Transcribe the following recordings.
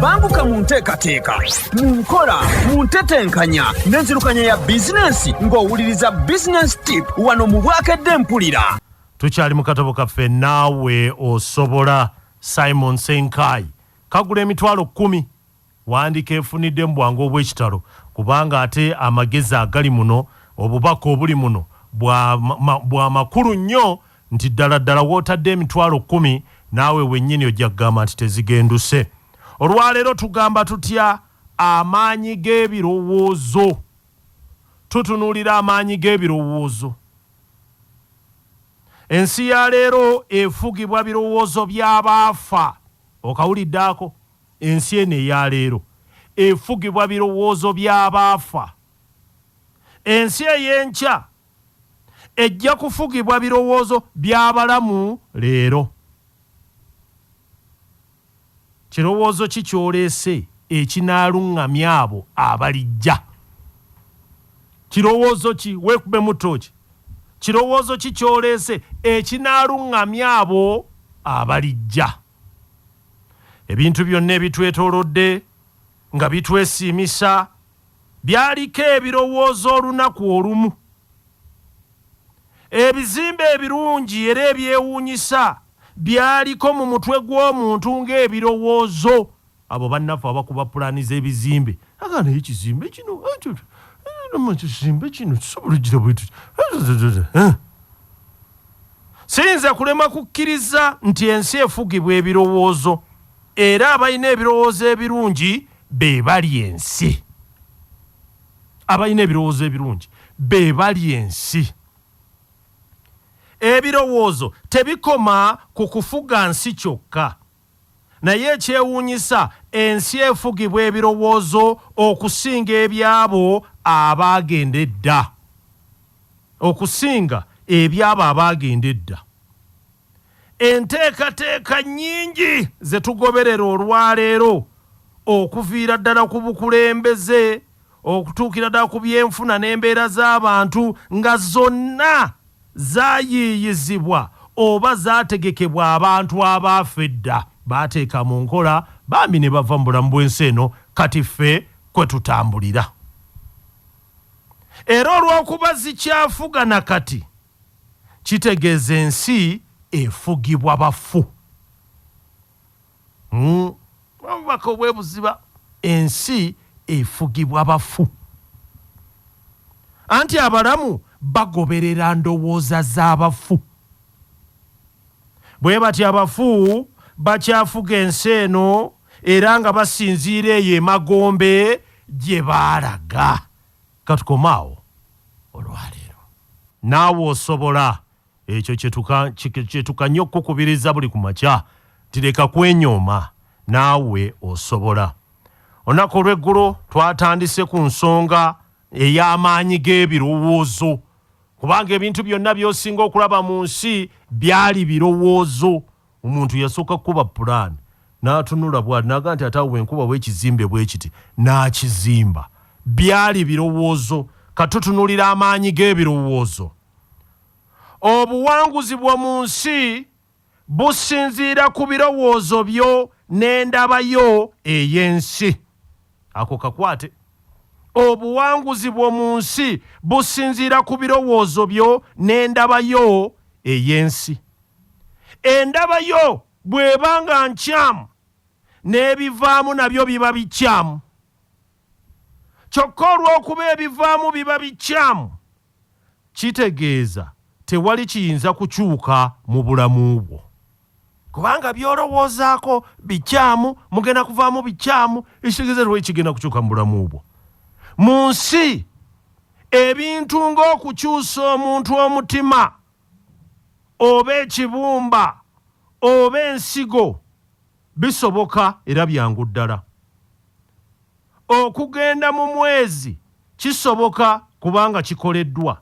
banguka mu nteekateeka mu nkola mu ntetenkanya n'enzirukanya ya bizinensi ng'owuliriza bizinensi tip wano mu bwakedde mpulira tukyali mu katabo kaffe naawe osobola simon senkai kagula emitwalo kkumi wandika efunidde mu bwangu obw'ekitalo kubanga ate amagezi agali muno obubaka obuli muno bwa makulu nnyo nti ddala ddala w'otadde emitwalo kkumi naawe wennyini ojja kugamba nti tezigenduse. Olwaleero tugamba tutya amaanyi g'ebirowoozo? Tutunuulira amaanyi g'ebirowoozo. Ensi ya leero efugibwa birowoozo by'abaafa. Okawulidde ako? Ensi eno eya leero efugibwa birowoozo by'abaafa. Ensi ey'enkya ejja kufugibwa birowoozo by'abalamu leero. Kirowoozo ki ky'oleese ekinaaluŋŋamya abo abalijja? Kirowoozo ki? Weekubemu ttooki. Kirowoozo ki ky'oleese ekinaaluŋŋamya abo abalijja? Ebintu byonna ebitwetoolodde nga bitwesiimisa Byaliko ebirowoozo olunaku olumu. Ebizimbe ebirungi era ebyewuunyisa byaliko mu mutwe gw'omuntu ng'ebirowoozo. Abo bannaffe abakuba pulaani z'ebizimbe, aga naye ekizimbe kino, nama ekizimbe kino kisobola ojjira bwe tuti. Siyinza kulema kukkiriza nti ensi efugibwa ebirowoozo era abalina ebirowoozo ebirungi be bali ensi abalina ebirowoozo ebirungi be bali ensi ebirowoozo tebikoma ku kufuga nsi kyokka naye ekyewuunyisa ensi efugibwa ebirowoozo okusinga ebyabo abaagenda edda okusinga ebyabo abaagenda edda Enteekateeka nnyingi ze tugoberera olwaleero okuviira ddala ku bukulembeze okutuukira ddala ku byenfuna n'embeera z'abantu nga zonna zaayiiyizibwa oba zaategekebwa abantu abaafa edda baateeka mu nkola bambi ne bava mu bulamu bw'ensi eno kati ffe kwe tutambulira. Era olw'okuba zikyafuga na kati, kitegeeza ensi efugibwa bafu. Hmm. Obubaka obwebuziba ensi efugibwa bafu. Anti abalamu bagoberera ndowooza z'abafu. Bwe batyo abafu bakyafuga ensi eno era nga basinziira eyo emagombe gye baalaga. Ka tukome awo olwa leero. Naawe osobola. Ekyo kye tuka, kye, kye tukanya okukukubiriza buli ku makya, nti leka kwenyooma. Naawe osobola. Olunaku olw'eggulo twatandise ku nsonga ey'amaanyi g'ebirowoozo, kubanga ebintu byonna by'osinga okulaba mu nsi byali birowoozo. Omuntu yasooka kukuba pulaani n'atunula bw'ati n'agamba nti ate awo bwe nkubawo ekizimbe bwe kiti n'akizimba. Byali birowoozo. Ka tutunuulire amaanyi g'ebirowoozo. Obuwanguzi bwo mu nsi businziira ku birowoozo byo n'endaba yo ey'ensi. Ako kakwate. Obuwanguzi bwo mu nsi businziira ku birowoozo byo n'endaba yo ey'ensi. Endaba yo bw'eba nga nkyamu, n'ebivaamu nabyo biba bikyamu. Kyokka olw'okuba ebivaamu biba bikyamu, kitegeeza tewali kiyinza kukyuka mu bulamu bwo. Kubanga by'olowoozaako bikyamu, mugenda kuvaamu bikyamu, ekitegeeza tewali kigenda kukyuka mu bulamu bwo. Mu nsi, ebintu ng'okukyusa omuntu omutima, oba ekibumba oba ensigo bisoboka era byangu ddala. Okugenda mu mwezi kisoboka kubanga kikoleddwa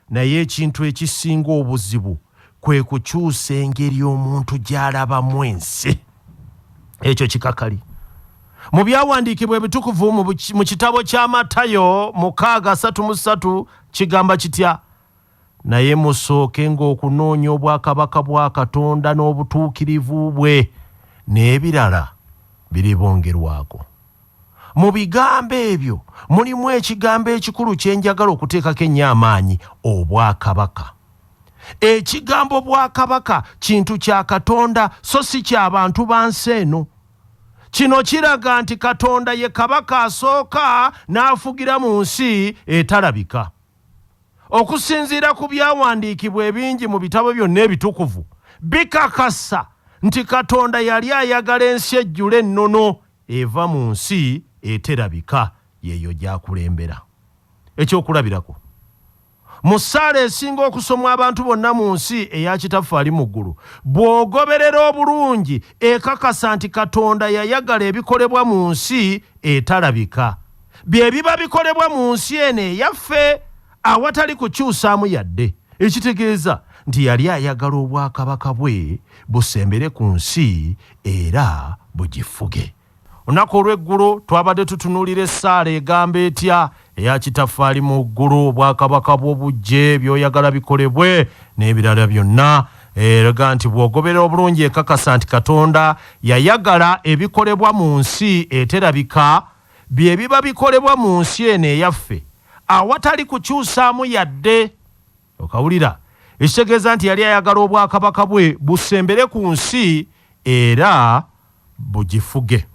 naye ekintu ekisinga obuzibu kwe kukyusa engeri omuntu gy'alabamu ensi. Ekyo kikakali mu byawandiikibwa ebitukuvu mu kitabo kya Matayo mukaaga asatu mu ssatu kigamba kitya? Naye musookenga okunoonya obwakabaka bwa Katonda n'obutuukirivu bwe, n'ebirala biribongerwako. Mu bigambo ebyo mulimu ekigambo ekikulu kye njagala okuteekako ennyo amaanyi, obwakabaka. Ekigambo bwakabaka kintu kya Katonda so si kya bantu ba nsi eno. Kino kiraga nti Katonda ye Kabaka asooka n'afugira mu nsi etalabika. Okusinziira ku byawandiikibwa ebingi mu bitabo byonna ebitukuvu, bikakasa nti Katonda yali ayagala ensi ejjule ennono eva mu nsi eterabika, y'eyo gy'akulembera. Eky'okulabirako, mu ssaala esinga okusomwa abantu bonna mu nsi eya Kitaffe ali mu ggulu, bw'ogoberera obulungi ekakasa nti Katonda yayagala ebikolebwa mu nsi etalabika. bye biba bikolebwa mu nsi eno eyaffe awatali kukyusaamu yadde ekitegeeza nti yali ayagala obwakabaka bwe busembere ku nsi era bugifuge olunaku olw'eggulo twabadde tutunuulira essaala egamba etya eya kitaffe ali mu ggulu obwakabaka bwo bujje by'oyagala bikolebwe n'ebirala byonna eraga nti bw'ogoberera obulungi ekakasa nti katonda yayagala ebikolebwa mu nsi eterabika bye biba bikolebwa mu nsi eno eyaffe awatali kukyusaamu yadde. Okawulira? Ekitegeeza nti yali ayagala obwakabaka bwe busembere ku nsi era bugifuge.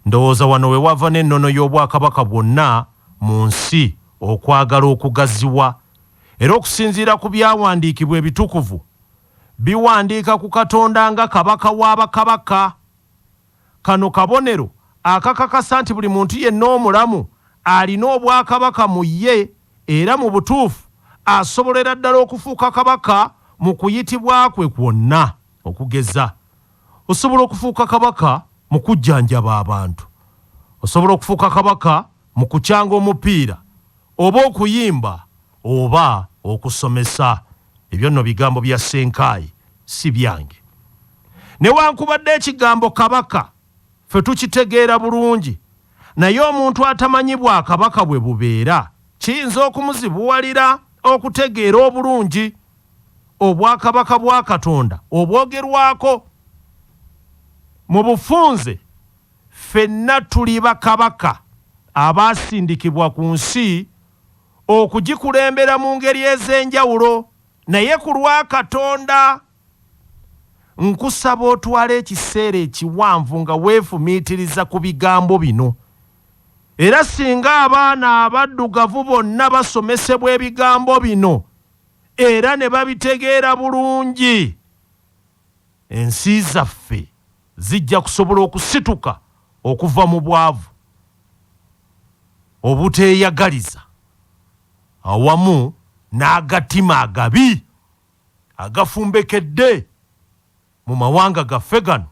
Ndowooza wano we wava n'ennono y'obwakabaka bwonna mu nsi okwagala okugaziwa. Era okusinziira ku byawandiikibwa ebitukuvu, biwandiika ku Katonda nga Kabaka wa bakabaka. Kano kabonero akakakasa nti buli muntu yenna omulamu alina Obwakabaka mu ye era mu butuufu asobolera ddala okufuuka Kabaka mu kuyitibwa kwe kwonna. Okugeza, osobola okufuuka Kabaka mu kujjanjaba abantu, osobola okufuuka Kabaka mu kucanga omupiira oba okuyimba oba okusomesa. Ebyo nno bigambo bya Ssenkaayi si byange. Newankubadde ekigambo Kabaka ffe tukitegeera bulungi naye omuntu atamanyi Bwakabaka bwe bubeera kiyinza okumuzibuwalira okutegeera obulungi Obwakabaka bwa Katonda obwogerwako. Mu bufunze ffenna tuli bakabaka abaasindikibwa ku nsi. okugikulembera mu ngeri ez'enjawulo naye ku lwa Katonda nkusaba otwala ekiseera ekiwanvu nga weefumiitiriza ku bigambo bino era singa abaana abaddugavu bonna basomesebwa ebigambo bino era ne babitegeera bulungi ensi zaffe zijja kusobola okusituka okuva mu bwavu, obuteeyagaliza awamu n'agatima agabi agafumbekedde mu mawanga gaffe gano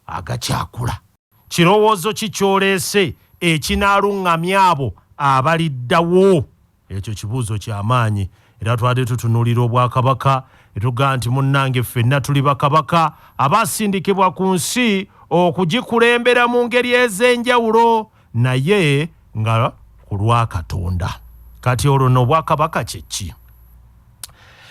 agakyakula. Kirowoozo ki ky'oleese ekinaalung'amya abo abaliddawo? Ekyo kibuuzo kya maanyi. Era twali tutunuulira Obwakabaka, ne tugamba nti, Munnange, ffenna tuli bakabaka abaasindikibwa ku nsi okugikulembera mu ngeri ez'enjawulo, naye nga ku lwa Katonda. Kati olwo nno, Obwakabaka kye ki?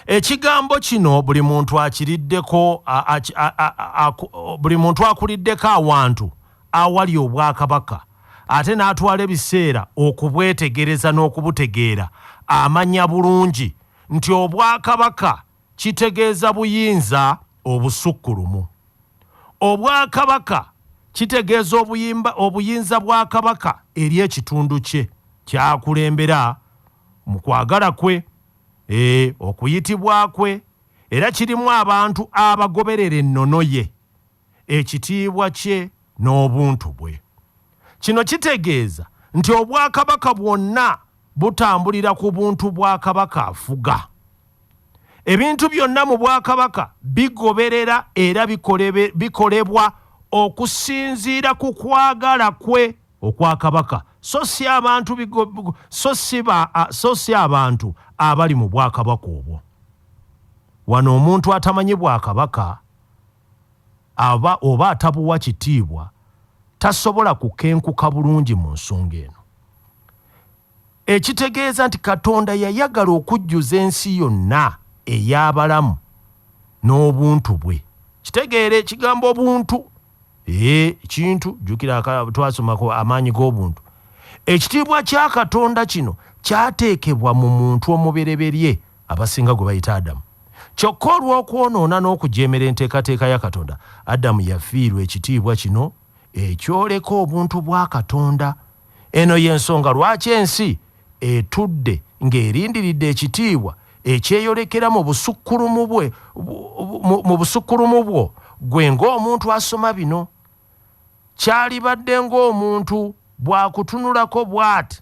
Ekigambo kino buli muntu akiriddeko, a, a, a, a, a, buli muntu akuliddeko awantu. awali Obwakabaka ate n'atwala ebiseera okubwetegereza n'okubutegeera, amanya bulungi nti Obwakabaka kitegeeza buyinza obusukkulumu. Obwakabaka kitegeeza obuyimba, obuyinza bwa Kabaka eri ekitundu kye ky'akulembera mu kwagala kwe, e, okuyitibwa kwe, era kirimu abantu abagoberera ennono ye. ekitiibwa kye n'obuntu bwe. Kino kitegeeza nti obwakabaka bwonna butambulira ku buntu bwa kabaka afuga. Ebintu byonna mu bwakabaka bigoberera era bikolebwa okusinziira ku kwagala kwe okwa kabaka so si abantu so si so si abantu abali mu bwakabaka obwo wano omuntu atamanyi bwakabaka aba oba atabuwa kitiibwa tasobola kukenkuka bulungi mu nsonga eno. Ekitegeeza nti Katonda yayagala okujjuza ensi yonna ey'abalamu n'obuntu bwe. Kitegeera ekigambo obuntu. Ee, ekintu, jjukira twasoma ku amaanyi g'obuntu. Ekitiibwa kya Katonda kino kyateekebwa mu muntu omubereberye Abasinga gwe bayita Adamu. Kyokka olw'okwonoona n'okujeemera enteekateeka ya Katonda, Adamu yafiirwa ekitiibwa kino ekyoleka obuntu bwa Katonda. Eno y'ensonga lwaki ensi etudde ng'erindiridde ekitiibwa ekyeyolekera mu busukkulumu bwe, mu busukkulumu bwo ggwe ng'omuntu asoma bino. Kyalibadde ng'omuntu bw'akutunulako bw'ati,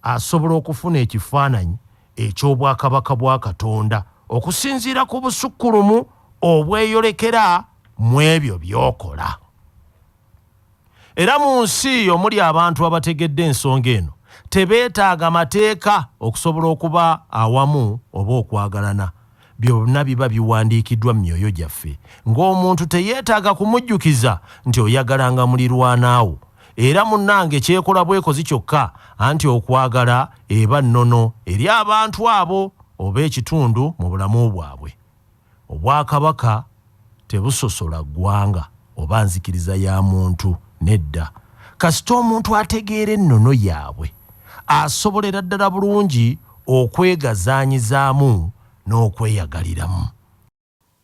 asobola okufuna ekifaananyi eky'Obwakabaka bwa Katonda okusinziira ku busukkulumu obweyolekera mu ebyo by'okola. Era mu nsi omuli abantu abategedde ensonga eno, tebeetaaga mateeka okusobola okuba awamu oba okwagalana. Byonna biba biwandiikiddwa mu myoyo gyaffe, ng'omuntu teyeetaaga kumujjukiza nti oyagalanga mulirwana wo. Era munnange kyekola bwekozi kyokka, anti okwagala eba nnono eri abantu abo oba ekitundu mu bulamu bwabwe. Obwakabaka. Tebusosola ggwanga oba nzikiriza ya muntu, nedda. Kasita omuntu ategeera ennono yaabwe, asobolera ddala bulungi okwegazaanyizaamu n'okweyagaliramu.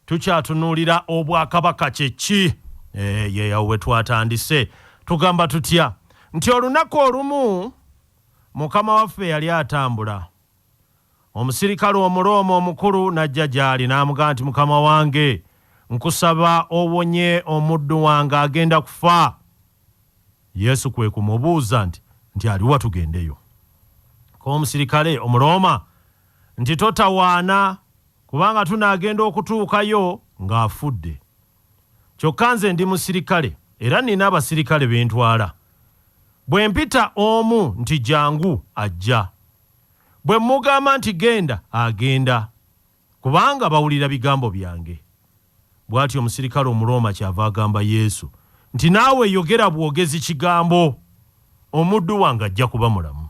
Tukyatunuulira Obwakabaka kye ki? Eeh, awo we twatandise. Tugamba tutya nti olunaku olumu Mukama waffe yali atambula. Omusirikale Omurooma omukulu n'ajja gy'ali, n'amugamba nti, Mukama wange, nkusaba owonye omuddu wange, agenda kufa. Yesu kwe kumubuuza nti, Nti ali wa tugendeyo? Ko omusirikale Omurooma nti, Totawaana, kubanga tunaagenda okutuukayo ng'afudde. Kyokka nze ndi musirikale, era nnina abasirikale be ntwala. Bwe mpita omu nti, Jangu, ajja. Bwe mmugamba nti, Genda, agenda, kubanga bawulira bigambo byange. Bw'atyo omusirikale Omurooma kyava agamba Yesu nti, Naawe yogera bwogezi kigambo, omuddu wange ajja kuba mulamu.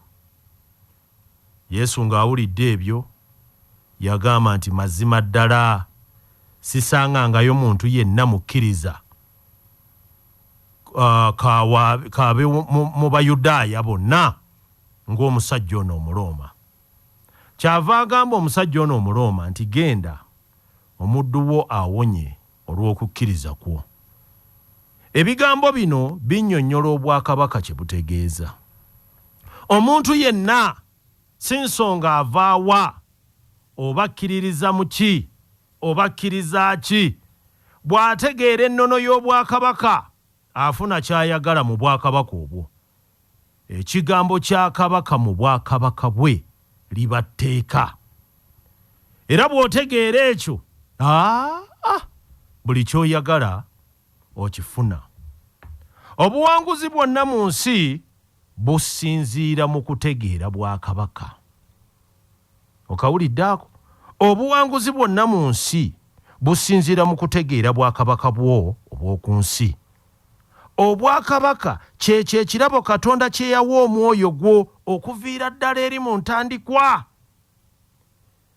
Yesu ng'awulidde ebyo, yagamba nti, Mazima ddala, sisangangayo muntu yenna mukkiriza, ka, ka, wa, ka be mu, mu Bayudaaya bonna ng'omusajja ono Omurooma. Kyava agamba omusajja ono Omurooma nti, Genda, omuddu wo awonye olw'okukkiriza kwo. Ebigambo bino binnyonnyola obwakabaka kye butegeeza. Omuntu yenna, si nsonga ava wa, oba akkiririza mu ki, oba akkiriza ki, bw'ategeera ennono y'obwakabaka, afuna ky'ayagala mu bwakabaka obwo. Ekigambo kya Kabaka mu Bwakabaka bwe liba tteeka. Era bw'otegeera ekyo, aa, buli ky'oyagala okifuna. Obuwanguzi bwonna mu nsi businziira mu kutegeera Bwakabaka. Okawulidde ako? Obuwanguzi bwonna mu nsi businziira mu kutegeera Bwakabaka bwo obw'oku nsi. Obwakabaka ky'ekyo ekirabo Katonda kye yawa omwoyo gwo okuviira ddala eri mu ntandikwa.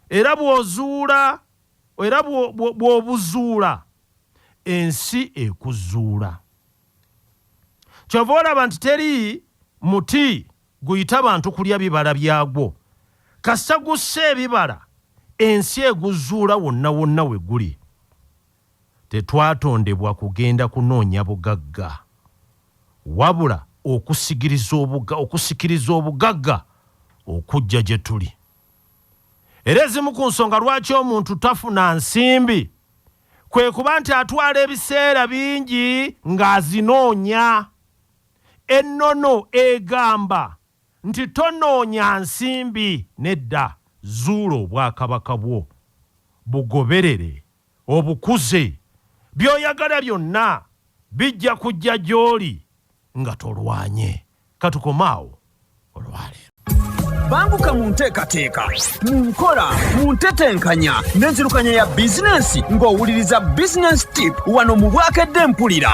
Era bw'ozuula, era bw'obuzuula, ensi ekuzuula. Ky'ova olaba nti teri muti guyita bantu kulya bibala byagwo. Kasita gussa ebibala, ensi eguzuula wonna wonna we guli. Tetwatondebwa kugenda kunoonya bugagga, wabula okusigiriza obuga, okusikiriza obugagga okujja gye tuli. Era ezimu ku nsonga lwaki omuntu tafuna nsimbi kwe kuba nti atwala ebiseera bingi ng'azinoonya. Ennono egamba nti tonoonya nsimbi, nedda, zuula obwakabaka bwo, bugoberere. obukuze, by'oyagala byonna bijja kujja gy'oli nga tolwanye. Ka tukome awo olwaleero. Banguka mu nteekateeka, mu nkola, mu ntetenkanya n'enzirukanya ya bizinensi ng'owuliriza Business Tip wano mu Bwakedde Mpulira.